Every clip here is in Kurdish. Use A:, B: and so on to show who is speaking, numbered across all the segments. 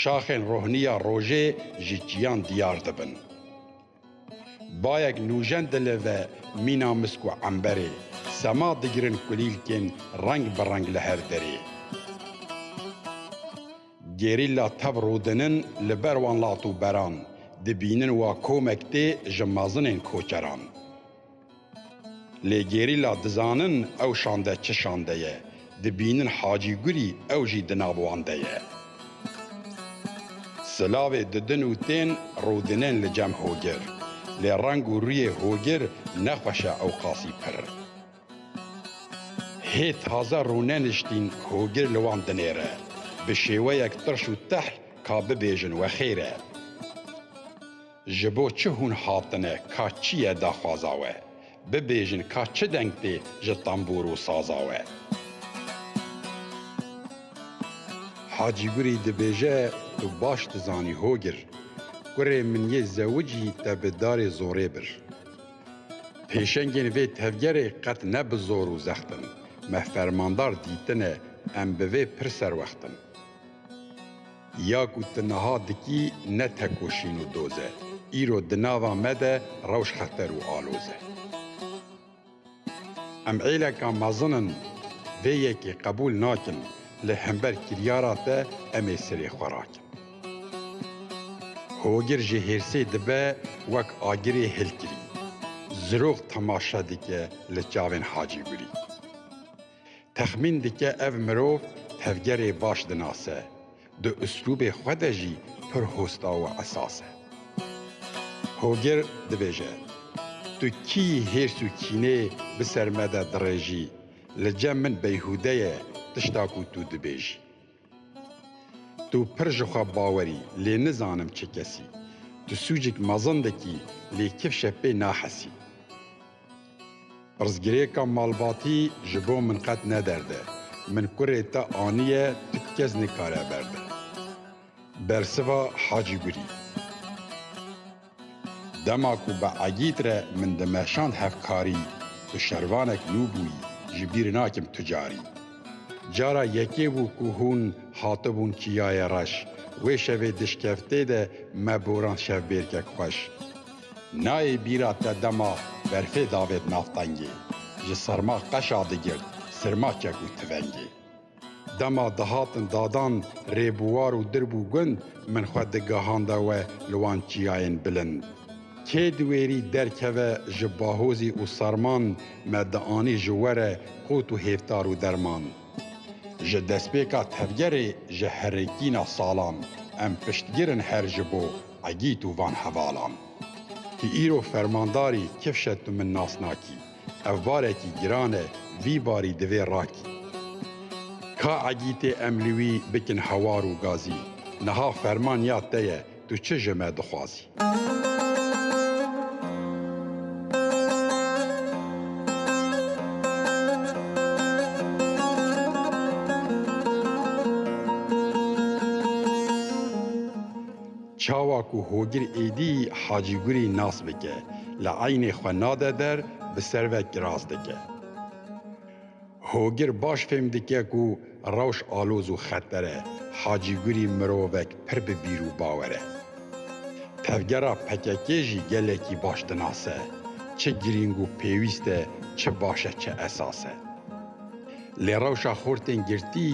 A: Şaxên rohniya rojê ji çiyan diyar dibin. Bayek nûjen dile ve mîna misk û emberê, sema digirin kulîlkên reng bi reng li her derê. Gerîla tev rûdinin li ber wan lat û beran, dibînin wa komek tê ji mezinên koçeran. Lê gerîla dizanin ew şande çi şande ye, dibînin Hacî Gurî ew jî di nav wan de ye. Silavê didin û tên rûdinên li cem Hogir. Lê reng û rûyê Hogir ne xweş e ewqasî pirr. Hê taze rûneniştîn Hogir li wan dinêre. Bi şêweyek tirş û tehl ka bibêjin wexêr e. Ji bo çi hûn hatine ka çi ye daxwaza we? Bibêjin ka çi deng tê ji tembûr û saza we? Hacî Gurî dibêje tu baş dizanî hogir, Kurê min yê zewicî te bi darê zorê bir. Pêşengên vê tevgerê qet ne bi zor û zext in, me fermandar dîtine em bi vê pir serwext in. Ya ku tu niha dikî ne tekoşîn û doz e, îro di nava me de rewş xeter û aloz e. Em êleka mezin in vê yekê qebûl nakin, lê hember kiryara te em ê serê xwe rakin. Hogir ji hêrsê dibe wek agirê hilkirî. Zirok temaşe dike li çavên Hacî Gulî. Texmîn dike ev mirov tevgerê baş dinase, di uslûbê xwe de jî pir hosta û esas e. Hogir dibêje, Tu kî hêrs û kînê bi ser me de dirêjî, li cem min beyhûde ye tişta ku tu dibêjî. Tu pir ji xwe bawer î, lê nizanim çi kes î. Tu sûcik mezindek î, lê kifşe pê nahesî. Pirsgirêka malbatî ji bo min qet ne derd e. Min kurê te aniye, tu kes nikare berde. Bersiva Hacîgurî. Dema ku bi Egîd re min dimeşand hevkarî tu şervanek nû bûyî, ji bîr nakim tu carî. Cara yekê bû ku hûn hatibûn Çiyayê Reş, wê şevê dişkeftê de me borand şevbêrkek xweş. Nayê bîra te dema berfê davêt nav tengê, ji serma qeşa digirt sirma çek û tivengê. Dema dihatin dadan rêbuwar û dirb û gund, min xwe digihanda we li wan çiyayên bilind. Kê di wêrî derkeve ji bahozî û serman me dianî ji we re qût û hêvtar û derman. Ji destpêka tevgerê ji herikîna salan em piştgir in her ji bo egît û van hevalan. Ti îro fermandarî kifşe tu min nas nakî. Ev barekî giran e, vî barî divê rakî. Ka Egî tê em li wî bikin hewar û gazî. Niha ferman ya te ye, tu çi ji me dixwazî? Çawa ku Hogir êdî Hacî Gurî nas bike, li eynê xwe nade der, bi ser ve kiras dike. Hogir baş fêm dike ku rewş aloz û xeter e, Hacî Gurî mirovek pir bi bîr û bawer e. Tevgera pkk jî gelekî baş dinase, çi girîng û pêwîst e, çi baş e, çi esas e. Lê rewşa xortên girtî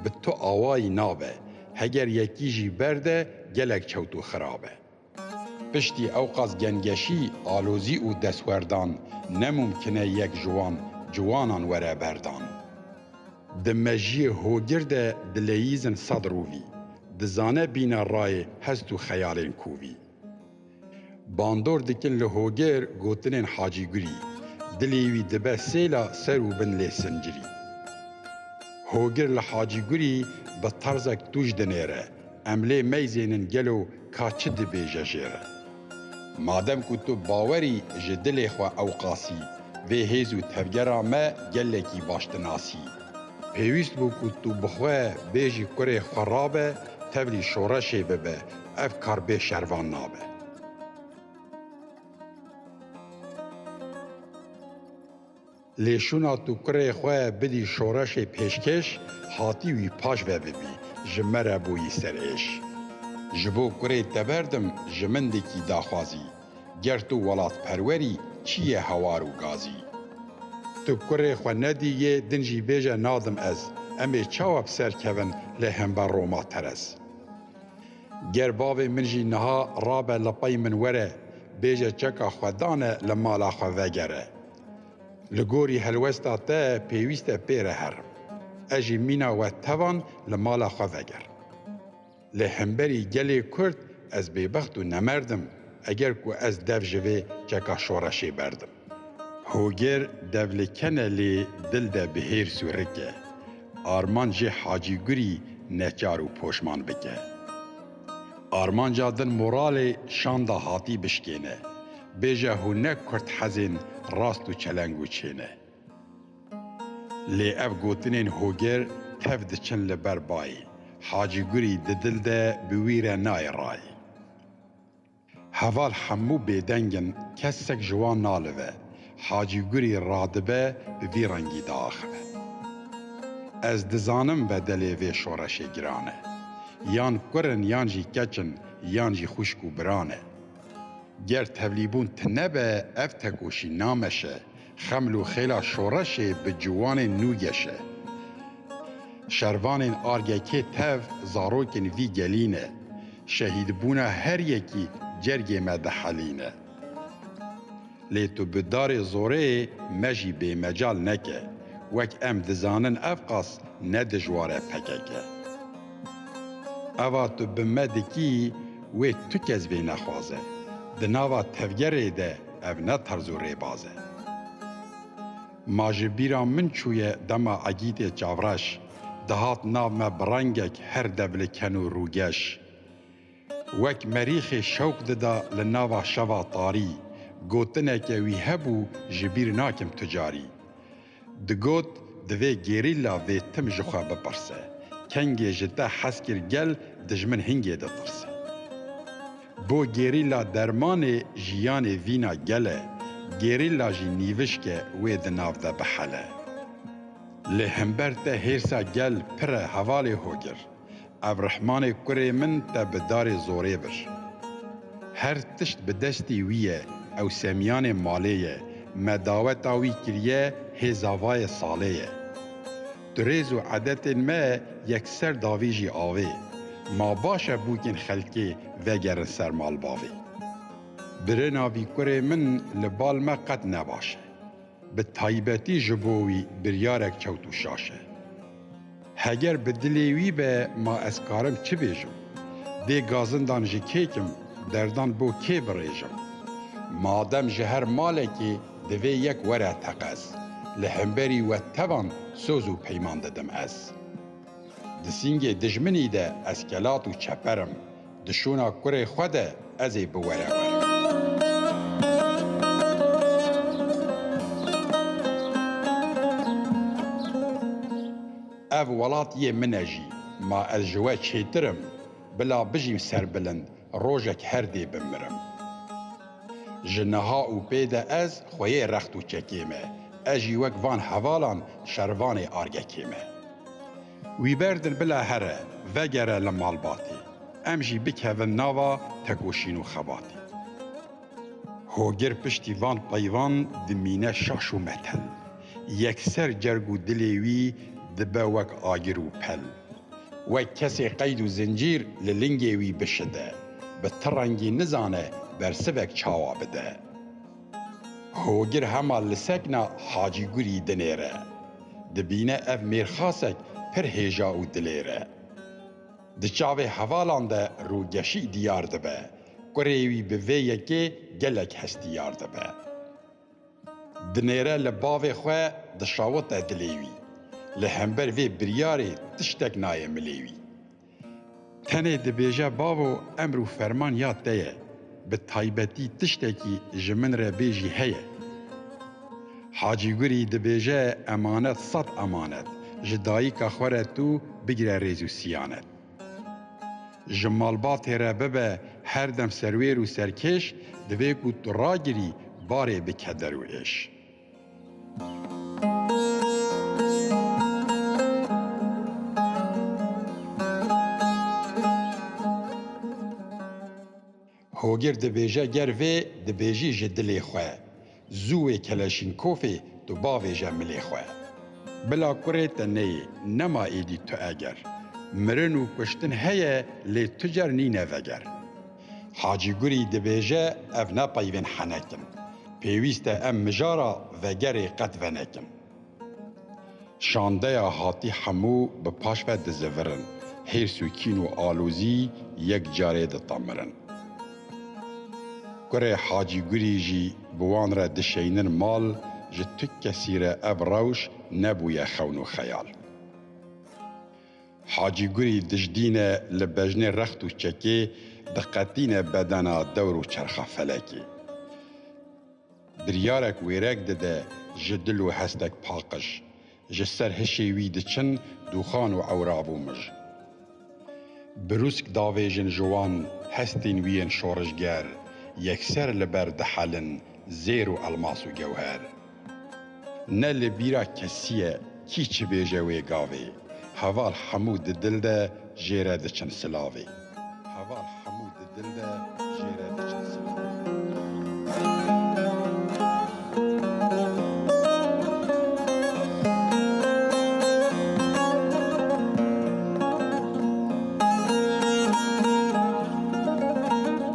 A: bi tu awayî nabe. Heger yekî jî berde gelek çewt û xirab e. Piştî ewqas gengeşî, alozî û destwerdan ne mumkin e yek ji wan ciwanan were berdan. Di mejiyê hogir de dileyîzn sed rûvî, dizane bîne rayê hest û xeyalên kovî. Bandor dikin li hogêr gotinên Hacî Gulî, dilê wî dibe sêla ser û bin lê sincirî. Hogir li Hacî Gulî bi terzek tûj dinêre, em lê meyzênin gelo ka çi dibêje jê re. Madem ku tu bawerî ji dilê xwe ewqasî, vê hêz û tevgera me gelekî baş dinasî. Pêwîst bû ku tu bi xwe bêjî kurê xwe rabe, tevlî şoreşê bibe, Ev kar bê şervan nabe. Lê şûna tu kurê xwe bidî şoreşê pêşkêş hatî wî paş ve bibî, ji me re bûyî serêş. Ji bo kurê te berdim ji min dikî daxwazî, ger tu welatperwerî çi ye hawar û gazî. Tu kurê xwe nedî yê din jî bêje nadim ez, em ê çawa bi ser kevin lê hember Roma terez. Ger bavê min jî niha rabe li pey min were bêje çeka xwe dane li mala xwe vegere. Li gorî helwesta te pêwîst e pê re herim. Ez jî mîna we tevan li mala xwe veger. Lê hemberî gelê Kurd ez bêbext û nemerd im eger ku ez dev ji vê çeka şoreşê berdim. Hoger devlikene lê dil de bi hêr sûrike. Armanc jê Hacî Gurî neçar û poşman bike. Armanca din moralê şanda hatî bişkêne, bêje hûn ne kurd hezên rast û çeleng û çê ne. Lê ev gotinên Hoger tev diçin li ber bayê. Hacî Gurî di dil de bi wî re nayê rayê. Heval hemû bêdeng in, kesek ji wan nalive. Hacî Gurî radibe bi vî rengî diaxive. Ez dizanim bedelê vê şoreşê giran e. Yan kur in yan jî keç in, yan jî xwişk û biran e. Ger tevlîbûn tine be ev tekoşî nameşe, Xeml û xêla şoreşê bi ciwanên nû geşe. Şervanên Argekê tev zarokên vî gelî ne. Şehîdbûna her yekî cergê me dihelîne. Lê tu bi darê zoreyê me jî bêmecal neke. Wek em dizanin evqas ne dijwar e pkk. Eva tu bi me dikî wê tu kes vê nexwaze. Di nava tevgerê de. Ev ne terz û rêbaz e. Ma ji bîra min çûye dema Egîtê Çavreş dihat nav me bi rengek her devliken û rûgeş. Wek merîxê şewq dida li nava şeva tarî, gotineke wî hebû ji bîr nakim tu carî. Digot, divê gerîla vê tim ji xwe bipirse, Kengê ji te hez kir gel dijmin hingê ditirse? Bo gerîla dermanê jiyanê vîna gel e, gerîla jî nîvişk e wê di nav de bihele. Lê himber te hêrsa gel pir e hevalê hogir. Ev rehmanê kurê min te bi darê zorê bir. Her tişt bi destî wî ye, ew semiyanê malê ye, me daweta wî kiriye hê zavayê salê ye. Di rêz û edetên me yekser davî jî avê, ma baş e bûkên xelkê vegerin ser malbavê. Birêna vî kurê min li bal me qet ne baş e. Bi taybetî ji bo wî biryarek kewt û şaş e. Heger bi dilê wî be ma ez karim çi bêjim? Dê gazindan ji kê kim, derdan bo kê birêjim? Madem ji her malekê divê yek were teqez, li hemberî we tevan soz û peyman didim ez. Di sîngê dijminî de ez kelat û çeperim, Di şûna kurê xwe de ez ê biwere wer. Ev welat yê min e jî. Ma ez ji we çêtir im. Bila bijîm serbilind, rojek her dê bimirim. Ji niha û pê de ez xweyê rext û çekê me. Ez jî wek van hevalan şervanê argekê me. Wî berdin bila here, vegere li malbatê. Em jî bikevin nava tekoşîn û xebatê. Hogir piştî van peyvan dimîne şaş û metel. Yekser cerg û dilê wî dibe wek agir û pel. Wek kesê qeyd û zincîr li lingê wî bişide. Bi ti rengî nizane bersivek çawa bide. Hogir hema li sekna Hacî Gurî dinêre. Dibîne ev mêrxasek pir hêja û dilêr e. Di çavê hevalan de rûgeşî diyar dibe. Kurê wî bi vê yekê gelek hestiyar dibe. Dinêre li bavê xwe dişawite dilê wî. Li hember vê biryarê tiştek nayê milê wî. Tenê dibêje bavo emr û ferman ya te ye, bi taybetî tiştekî ji min re bê jî heye. Hacî Gurî dibêje emanet sed emanet, ji dayika xwe re tu bigire rêz û siyanet. Ji malbatê re bibe her dem serwêr û serkêş, divê ku tu ragirî barê bike der û êş. Hogir dibêje ger vê dibêjî ji dilê xwe, zû wê Keleşînkofê tu bavêje milê xwe. Bila kurê te neyê, nema êdî tu eger. Mirin û kuştin heye lê tu cer nîne veger. Hacî Gurî dibêje ev ne peyvên henek in. Pêwîst e em mijara vegerê qet venekin. Şandeya hatî hemû bi paş ve dizivirin, hêrs û kîn û alozî yek carê ditemirin. Kurê Hacî Gurî jî bi wan re dişeynin mal, ji tu kesî re ev rewş nebûye xewn û xeyal. Hacî Gurî dijdîne li bejnê rext û çekê diqetîne bedena dewr û çerxa felekê. Biryarek wêrek dide ji dil û hestek paqij, ji ser hişê wî diçin dûxan û ewrav û mij. Brûsk davêjin ji wan hestên wî yên şorijger, yekser li ber dihelin zêr û elmas û gewher. Ne li bîra kesî ye kî çi bêje wê gavê Heval hemû di dil de jêre diçin silavê Heval hemû di dil de jêre diçin silavê.